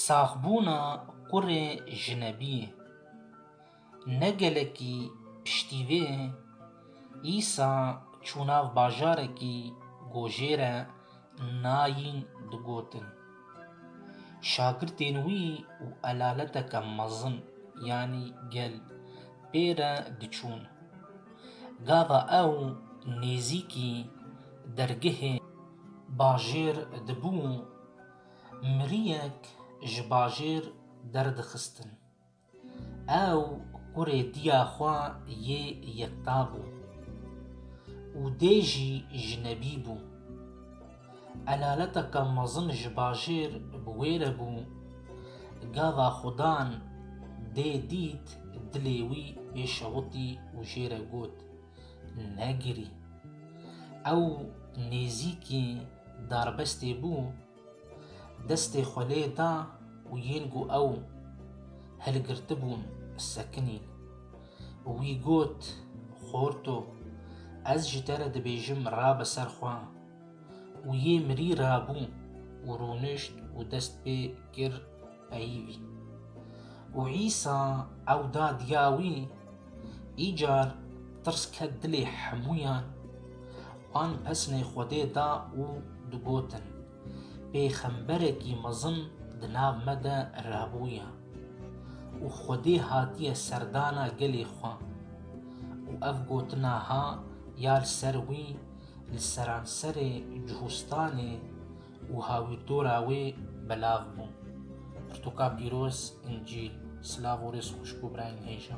Saxbûna qurê jinebî ne gelekî piştî vê îsa çû nav bajarekî gojêre nayîn digotin. Şagirtên wî û elaleteke mezin yanî gel pê re diçûn. Gava ew nêzîkî dergehê bajêr dibû, miriyek ji bajêr derdixistin. Ew kurê diya xwe yê yekta bû û dê jî jinebî bû. Elaleteke mezin ji bajêr bi wê re bû. Gava Xudan dê dît dilê wî bê şewitî û jê re got, Negirî. Ew nêzîkî darbestê bû. Destê xwe lê da û yên ku ew hilgirtibûn sekinîn. Wî got, Xorto, ez ji te re dibêjim rabe ser xwe. Û yê mirî rabû û rûnişt û dest pê kir Eyîbî. Û Îsa ew da diya wî. Îcar tirs ket dilê hemûyan, wan pesnê Xwedê da û digotin, Pêxemberekî mezin di nav me de rabûye û Xwedê hatiye serdana gelê xwe. Û ev gotina ha ya li ser wî li seranserê Cihûstanê û hawîrtora wê belav bûn. Pirtûka pîroz, Încîl, silav û rêz xwişk û birayên hêja.